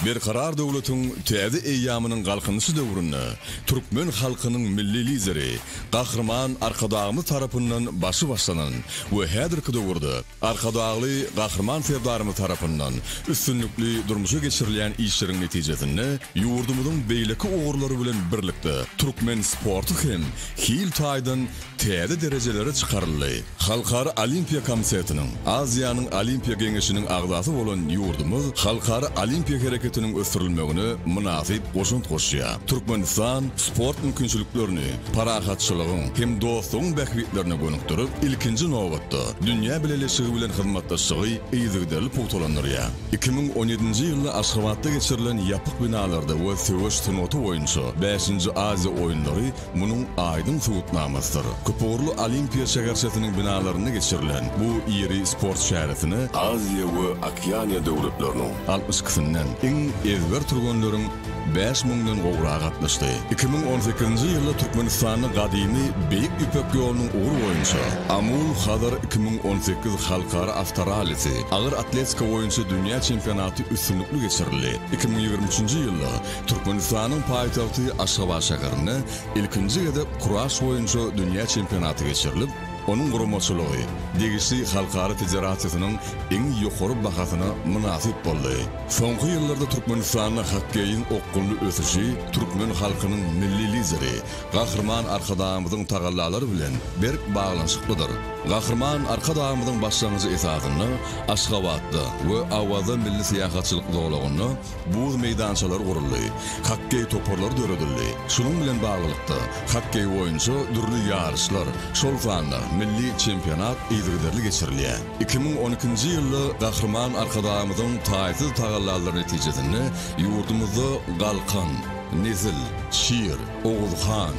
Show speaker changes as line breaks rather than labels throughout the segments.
Berkarar döwletiň täze eýýamynyň Galkynyşy döwründe türkmen halkynyň Milli Lideri Gahryman Arkadagymyz tarapyndan başy başlanan we häzirki döwürde Arkadagly Gahryman Serdarymyz tarapyndan üstünlikli durmuşa geçirilýän işleriň netijesinde ýurdumyzyň beýleki ugurlary bilen birlikde türkmen sporty hem hil taýdan täze derejelere çykaryldy. Halkara Olimpiýa Komitetiniň, Aziýanyň Olimpiýa Geňeşiniň agzasy bolan ýurdumyz halkara olimpiýa hereketiniň ösdürilmegine mynasyp goşant goşýar. Türkmenistan sport mümkinçiliklerini, parahatçylygyň hem dostlugyň bähbitlerine gönükdirip, ilkinji nobatda, dünýä bileleşigi bilen hyzmatdaşlygy yzygiderli pugtalandyrýar. Iki müň on ýedinji ýylda Aşgabatda geçirilen ýapyk binalarda we söweş sungaty boýunça bäşinji Aziýa oýunlary munuň aýdyň subutnamasydyr. Köpugurly Olimpiýa şäherçesiniň binalarynda geçirilen bu iri sport çäresine, Aziýa we Okeaniýa döwletleriniň altmyş ikisinden iň ezber türgenleriň bäş müňden gowrak gatnaşdy. Iki müň on sekizinji ýylda Türkmenistanda gadymy Beýik Ýüpek ýolunyň ugry boýunça Amul Hazar iki müň on sekiz halkara awtorallisi, agyr atletika boýunça dünýä çempionaty üstünlikli geçirildi. Iki müň ýigrimi üçünji ýylda Türkmenistanyň paýtagty Aşgabat şäherinde ilkinji gezek kuraş boýunça dünýä çempionaty geçirilip, onuň guramaçylygy degişli halkara federasiýasynyň iň ýokary bahasyna mynasyp boldy. Soňky ýyllarda Türkmenistanda hokkeýiň okgunly ösüşi türkmen halkynyň Milli Lideri, Gahryman Arkadagymyzyň tagallalary bilen berk baglanyşyklydyr. Gahryman Arkadagymyzyň başlangyjy esasynda Aşgabatda we Awaza milli syýahatçylyk zolagynda buz meýdançalary guruldy, hokkeý toparlary döredildi. Şunuň bilen baglylykda, hokkeý boýunça dürli ýaryşlar, şol sanda milli çempionat yzygiderli geçirilýär. Iki müň on ikinji ýylda Gahryman Arkadagymyzyň taýsyz tagallalary netijesinde ýurdumyzda Galkan, Nezil, Şir, Oguzhan,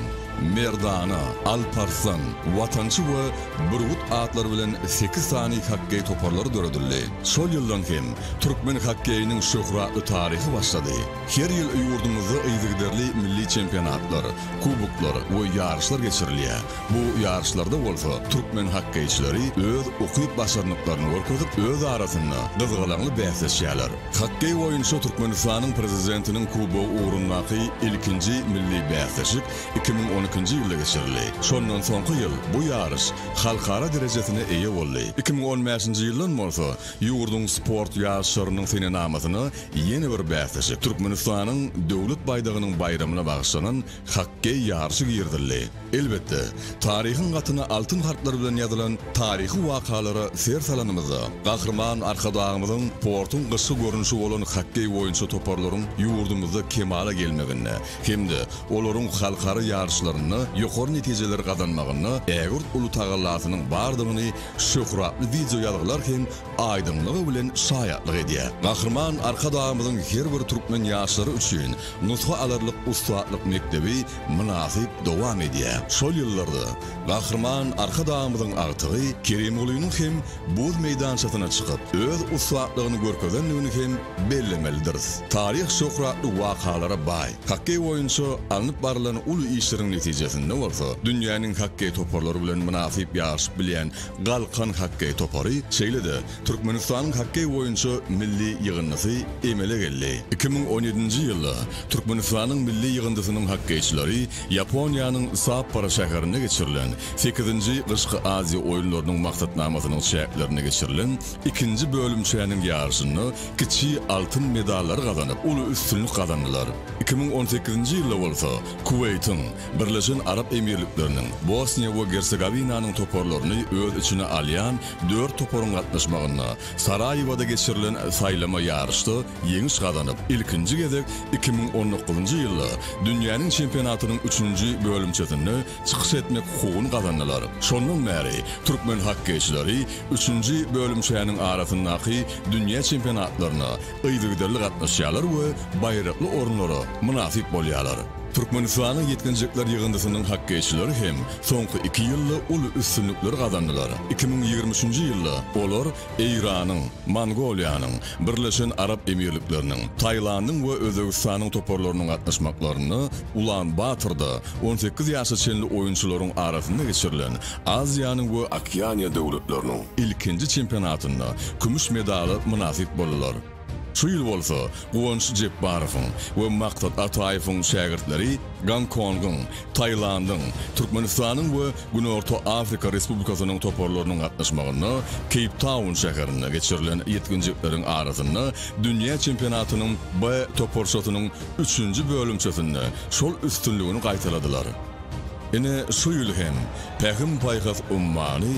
Merdana, Alp Arslan, Watançy we Bürgüt atlary bilen sekiz sany hokkeý toparlary döredildi. Şol ýyldan hem türkmen hokkeýiniň şöhratly taryhy başlady. Her ýyl ýurdumyzda yzygiderli milli çempionatlar, kuboklar we ýaryşlar geçirilýär. Bu ýaryşlarda bolsa türkmen hokkeýçileri öz ukyp-başarnyklaryny görkezip, öz arasynda gyzgalaňly bäsleşýärler. Hokkeý boýunça Türkmenistanyň Prezidentiniň kubogy ugrundaky ilkinji milli bäsleşik iki müň on ikinji ýylda geçirildi. Şondan soňky ýyl bu ýaryş halkara derejesine eýe boldy. Iki müň on bäşinji ýyldan bolsa ýurduň sport ýaryşlarynyň senenamasyna ýene bir bäsleşik, Türkmenistanyň Döwlet baýdagynyň baýramyna bagyşlanan Hokkeý ýaryşy girizildi. Elbetde, taryhyň gatyna altyn harplar bilen ýazylan taryhy wakalara ser salanymyzda, Gahryman Arkadagymyzyň sportuň gyşky görnüşi bolan hokkeý boýunça toparlaryň ýurdumyzda kemala gelmeginde hem-de olaryň halkara ýaryşlarynda ýokary netijeleri gazanmagynda ägirt uly tagallasynyň bardygyny şöhratly wideoýazgylar hem aýdyňlygy bilen şaýatlyk edýär. Gahryman Arkadagymyzyň her bir türkmen ýaşlary üçin Nusga alarlyk ussatlyk mekdebi mynasyp dowam edýär. Şol ýyllarda Gahryman Arkadagymyzyň agtygy Kerimgulynyň hem buz meýdançasyna çykyp, öz ussatlygyny görkezendigini hem bellemelidiris. Taryh şöhratly wakalara baý. Hokkeý boýunça alnyp barylan uly işleriň netijesinde bolsa, dünýäniň hokkeý toparlary bilen mynasyp ýaryşyp bilýän Galkan hokkeý topary, şeýle-de Türkmenistanyň hokkeý boýunça milli ýygyndysy emele geldi. Iki müň on ýedinji ýylda Türkmenistanyň milli ýygyndysynyň hokkeýçileri Ýaponiýanyň Sapporo şäherinde geçirilen sekizinji Gyşky Aziýa oýunlarynyň maksatnamasynyň çäklerinde geçirilen ikinji bölümçäniň ýaryşynda kiçi altyn medallary gazanyp, uly üstünlik gazandylar. Iki müň on sekizinji ýylda bolsa Kuweýtiň, Birleşen Arap Emirlikleriniň, Bosniýa we Gersegowinanyň toparlaryny öz içine alýan Dört toparyň gatnaşmagynda Saraýewoda geçirilen saýlama ýaryşda ýeňiş gazanyp, ilkinji gezek iki müň on dokuzynjy ýylda dünýäniň çempionatynyň üçünji bölümçesinde çykyş etmek hukugyny gazandylar. Şondan bäri türkmen hokkeýçileri üçünji bölümçäniň arasyndaky dünýä çempionatlaryna yzygiderli gatnaşýarlar we baýrakly orunlara mynasyp bolýarlar. Türkmenistanyň ýetginjekler ýygyndysynyň hokkeýçileri hem soňky iki ýylda uly üstünlikler gazandylar. Iki müň ýigrimi üçünji ýylda olar Eýranyň, Mongoliýanyň, Birleşen Arap Emirlikleriniň, Tailandyň we Özbegistanyň toparlarynyň gatnaşmaklarynda Ulan-Batorda on sekiz ýaşa çenli oýunçylaryň arasynda geçirilen Aziýanyň we Okeaniýa döwletleriniň ilkinji çempionatynda kümüş medala mynasyp boldular. Şu ýyl bolsa Guwanç Jepbarowyň we Maksat Ataýewiň şägirtleri Gonkongyň, Tailandyň, Türkmenistanyň we Günorta Afrika Respublikasynyň toparlarynyň gatnaşmagynda Keýptaun şäherinde geçirilen ýetginjekleriň arasynda dünýä çempionatynyň B toparçasynyň üçünji bölümçesinde şol üstünligini gaýtaladylar. Ine, şu ýyl hem Pähim-paýhas ummany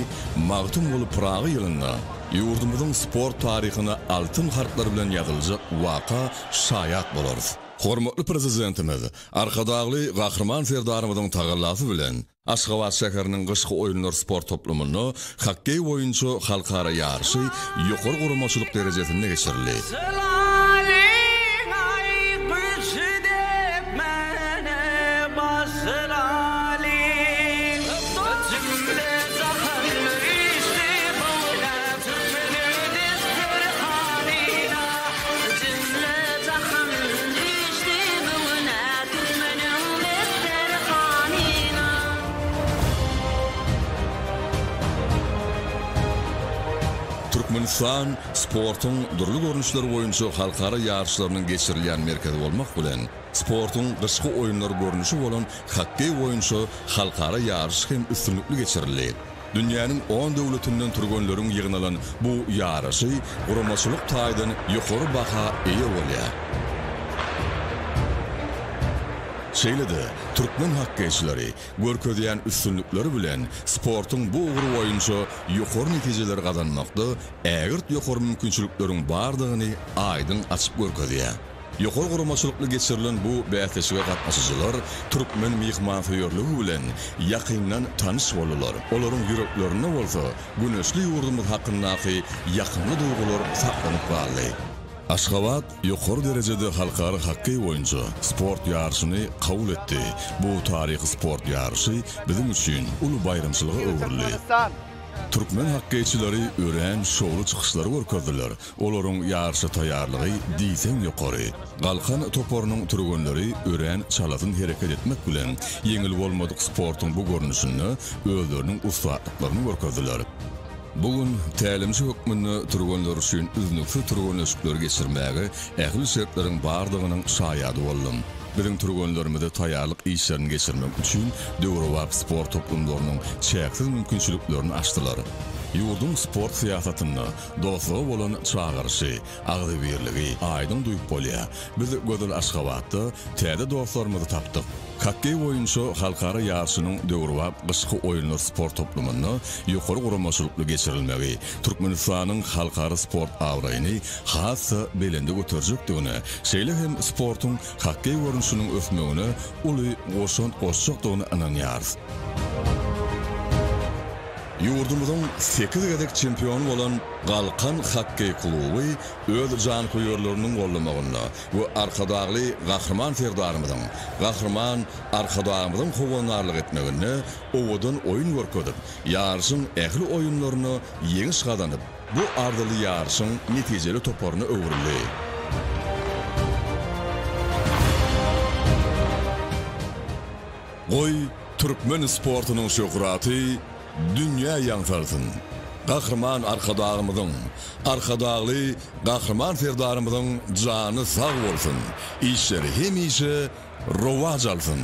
Magtymguly Pyragy ýylynda, Ýurdumyzyň sport taryhyna altyn harplar bilen ýazyljak waka şaýat bolarys. Hormatly Prezidentimiz Arkadagly Gahryman Serdarymyzyň tagallasy bilen, Aşgabat şäheriniň Gyşky oýunlar sport toplumynda hokkeý boýunça halkara ýaryşy ýokary guramaçylyk derejesinde geçirildi. Türkmenistan sportuň dürli görnüşleri boýunça halkara ýaryşlarynyň geçirilýän merkezi bolmak bilen, Sportuň gyşky oýunlar görnüşi bolan hokkeý boýunça halkara ýaryş hem üstünlikli geçirildi. Dünýäniň on döwletinden türgenleriň ýygnalan bu ýaryşy guramaçylyk taýdan ýokary baha eýe bolýar. Şeýle-de, türkmen hokkeýçileri görkezýän üstünlikleri bilen sportuň bu ugry boýunça ýokary netijeleri gazanmakda ägirt ýokary mümkinçilikleriň bardygyny aýdyň açyp görkezýär. Ýokary guramaçylykly geçirilen bu bäsleşige gatnaşyjylar türkmen myhmansöýerligi bilen ýakyndan tanyş boldular, olaryň ýüreklerinde bolsa güneşli ýurdumyz hakyndaky ýakymly duýgular saklanyp galdy. Aşgabat ýokary derejede halkara hokkeý boýunça sport ýaryşyny kabul etdi, bu taryhy sport ýaryşy biziň üçin uly baýramçylyga öwrüldi. Türkmen hokkeýçileri örän şowly çykyşlary görkezdiler, Olaryň ýaryşa taýýarlygy diýseň ýokary. Galkan toparynyň türgenleri örän çalasyn hereket etmek bilen, ýeňil bolmadyk sportuň bu görnüşinde özleriniň ussatlyklaryny görkezdiler. Bu gün tälimçi hökmünde türgenler üçin üznüksiz türgenleşikleri geçirmäge ähli şertleriň bardygynyň şaýady boldum. Biziň türgenlerimize taýýarlyk işlerini geçirmek üçin döwrebap sport toplumlarynyň çäksiz mümkinçiliklerini açdylar. Ýurduň sport syýasatynda Dostluga bolan çagyryşy, agzybirligi aýdyň duýup bolýar. Biz gözel Aşgabatda täze dostlarymyzy tapdyk. Hokkeý boýunça halkara ýaryşynyň döwrebap gyşky oýunlar sport toplumynda ýokary guramaçylykly geçirilmegi Türkmenistanyň halkara sport abraýyny has-da belende göterjekdigine, şeýle hem sportuň hokkeý görnüşiniň ösmegine uly goşant goşjakdygyna ynanýarys. Ýurdumyzyň sekiz gezek çempiony bolan Galkan hokkeý kluby öz janköýerleriniň gollamagynda we Arkadagly Gahryman Serdarymyzyň, Gahryman Arkadagymyzyň howandarlyk etmeginde owadan oýun görkezip, ýaryşyň ähli oýunlarynda ýeňiş gazanyp, bu arzyly ýaryşyň netijeli toparyna öwrüldi. Goý, türkmen sportunyň şöhraty dünýä ýaňsalsyn! Gahryman Arkadagymyzyň, Arkadagly Gahryman Serdarymyzyň jany sag bolsun, işleri hemişe rowaç alsyn!